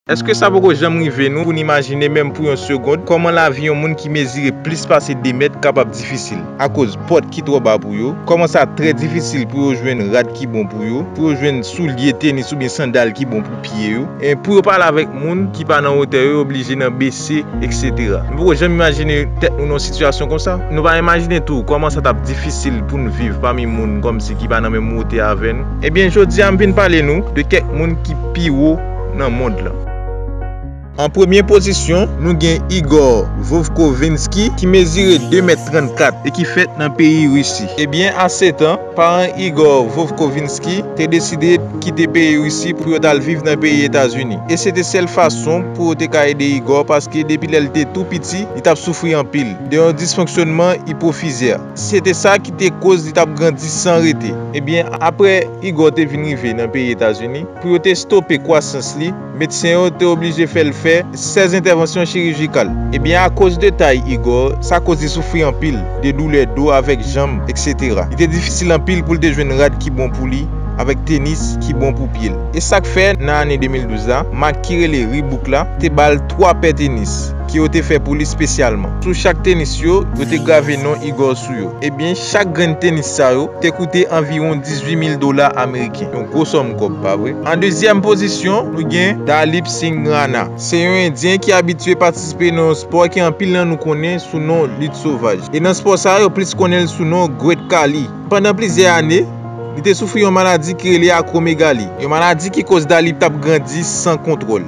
Èske sa poko janm rive nou pou n imajine menm pou yon segond kòman lavi yon moun ki mezire plis pase 2 mèt kapab difisil akoz pòt ki twò ba pou yo, kòman sa trè difisil pou yo jwenn rad ki bon pou yo, pou yo jwenn soulye tenis oubyen sandal ki bon pou pye yo, pou yo pale avèk moun ki pa nan wotè yo, yo oblije nan bese, eksetera. Nou poko janm imajine tèt nou nan yon sitiyasyon konsa? Nou pa imajine tou kòman sa t ap difisil pou n viv pami moun kòmsi ki pa nan menm wotè avè nou? Ebyen, jodi a m vin pale nou de kèk moun ki pi wo. nan mond lan. An premye pozisyon, nou gen Igor Vovkovinsky ki mezire 2 mèt 34 e ki fèt nan peyi Risi. E byen a 7 an, paran Igor Vovkovinsky te deside kite peyi Risi pou yo t al viv nan peyi Etazini. E se te sèl fason pou yo te ka ede Igor paske depi lè l te tou piti, li t ap soufri anpil de yon disfonksyonman ipofizè. Se te sa ki te koz li t ap grandi san rete. Ebyen, apre Igor te vin rive nan peyi Etazini, pou yo te stope kwasans li, medsen yo te oblije fè l fè 16 entèvansyon chirijikal. Ebyen, akoz de tay Igor, sa koz li soufri anpil de doulè do avèk janm, eksetera. Li te difisil anpil pou l te jwenn rad ki bon pou li avèk tenis ki bon pou pye l. E sa k fè, nan ane 2012 la, mak ki rele Reebok la te ba l 3 pè tenis. ke yo te fè pou li spesyalman. Sou chak tenis yo, yo te grave non Igor sou yo. Ebyen, chak grenn tenis sa yo te koute anviwon 18 mil dola ameriken. Yon gwo sòm kòb, pa vre? An dezyèm pozisyon, nou gen Dalip Singh Rana. Se yon endyen ki abitye patisipe nan yon spò ke anpil nan nou konnen sou non lit sovaj. E nan spò sa, yo plis konnen l sou non Great Khali. Pandan plizyè ane, li te soufri yon maladi ki rele akwomegali. Yon maladi ki koz Dalip t ap grandi san kontwòl.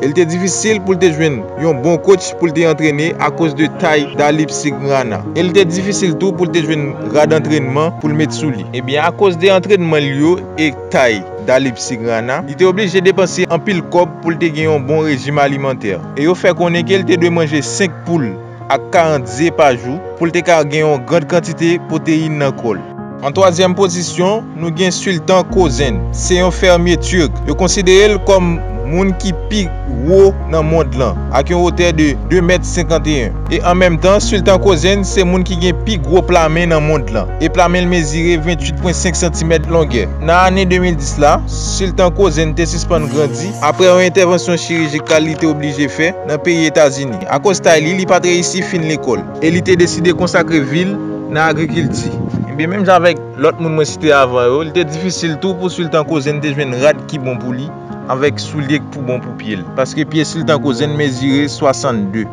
e li te difisil pou l te jwenn yon bon kotch pou l te antrene akoz de tay Dalip Signana, e li te difisil tou pou l te jwenn rad antrènman pou l met sou li. Ebyen akoz de antrènman l yo e tay Dalip Signana, li te oblije depanse anpil kòb pou l te gen yon bon rejim alimantè, e yo fè konnen ke l te dwe manje 5 poul. ak 40 ze pa jou pou l te ka gen yon grand kantite pwoteyin nan kò l. An twazyèm pozisyon, nou gen Sultan Kozen. Se yon fèmye Turk. Yo konsidere l kòm moun ki pi wo nan mond lan, ak yon wotè de 2 mèt 51. E an menm tan, Sultan Kozen se moun ki gen pi gwo pla men nan mond lan, e pla men l mezire 28,5 santimèt longè. Nan ane 2010 la, Sultan Kozen te sispann grandi apre yon entèvansyon chirijikal li te oblije fè nan peyi Etazini. Akoz tay li, li pa t reyisi fin lekòl. E li te deside konsakre vi l nan agrikilti. Enben, menm jan avèk lòt moun mwen site avan yo, li te difisil tou pou Sultan Kozen te jwenn rad ki bon pou li avèk soulye k pou bon pou pye l, paske pye Sultan Kozen mezire 62.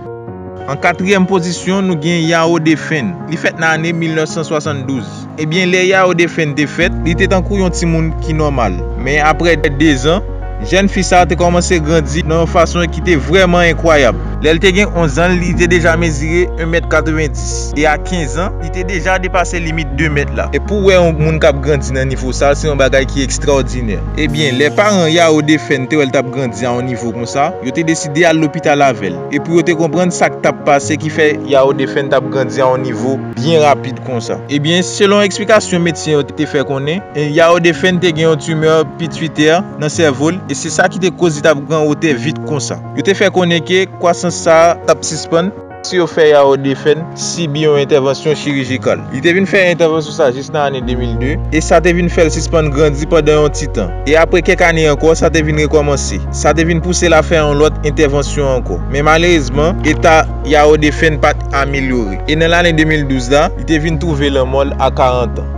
An katriyèm pozisyon, nou gen Yao Defen. Li fèt nan ane 1972. Ebyen, lè Yao Defenn te fèt, li te tankou yon timoun ki nòmal. Men aprè dezan, jèn fi sa a te kòmanse grandi nan yon fason ki te vrèman enkwayab. Lè l te gen onzan, li te deja mezire yon mèt katrevendis, e a kenzan, li te deja depase limit de mèt la. E pou w wè yon moun k ap grandi nan nivo sa a, se yon bagay ki ekstraòdinè. Ebyen, lè paran Yao Defenn te wè l t ap grandi a yon nivo konsa, yo te deside al lopital avè l, e pou yo te konprann sa k t ap pase ki fè Yao Defenn t ap grandi a yon nivo byen rapid. konsa. Ebyen, selon eksplikasyon medsen yo te fè konnen, Yao Defenn te gen yon timè pituitè nan sèvo l e se sa ki te koz li t ap gran wotè vit konsa. Yo te fè konnen ke kwasans sa a t ap sispann, si yo fè Yao Defenn sibi yon entèvansyon chirijikal. Li te vin fè entèvansyon sa jis nan ane 2002 e sa te vin fè l sispann grandi pandan yon ti tan. E apre kèk ane ankò, sa te vin rekòmanse. Sa te vin pouse l a fè yon lòt entèvansyon ankò. Men malerezman, eta. Yao Defenn pa t amelyore, e nan lane 2012 la, li te vin twouve lanmò l a 40 an.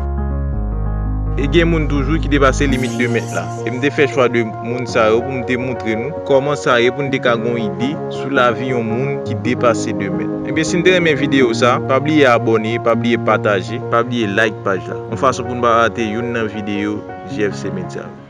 E gen moun toujou ki depase limit 2 mèt la. E m te fè chwa 2 moun sa yo pou m te montre nou kòman sa ye pou n te ka gen yon ide sou lavi yon moun ki depase 2 mèt. Ebyen si n te renmen videyo sa, pa bliye abòne, pa bliye pataje, pa bliye like paj la, yon fason pou n pa rate youn nan videyo JFC Media yo.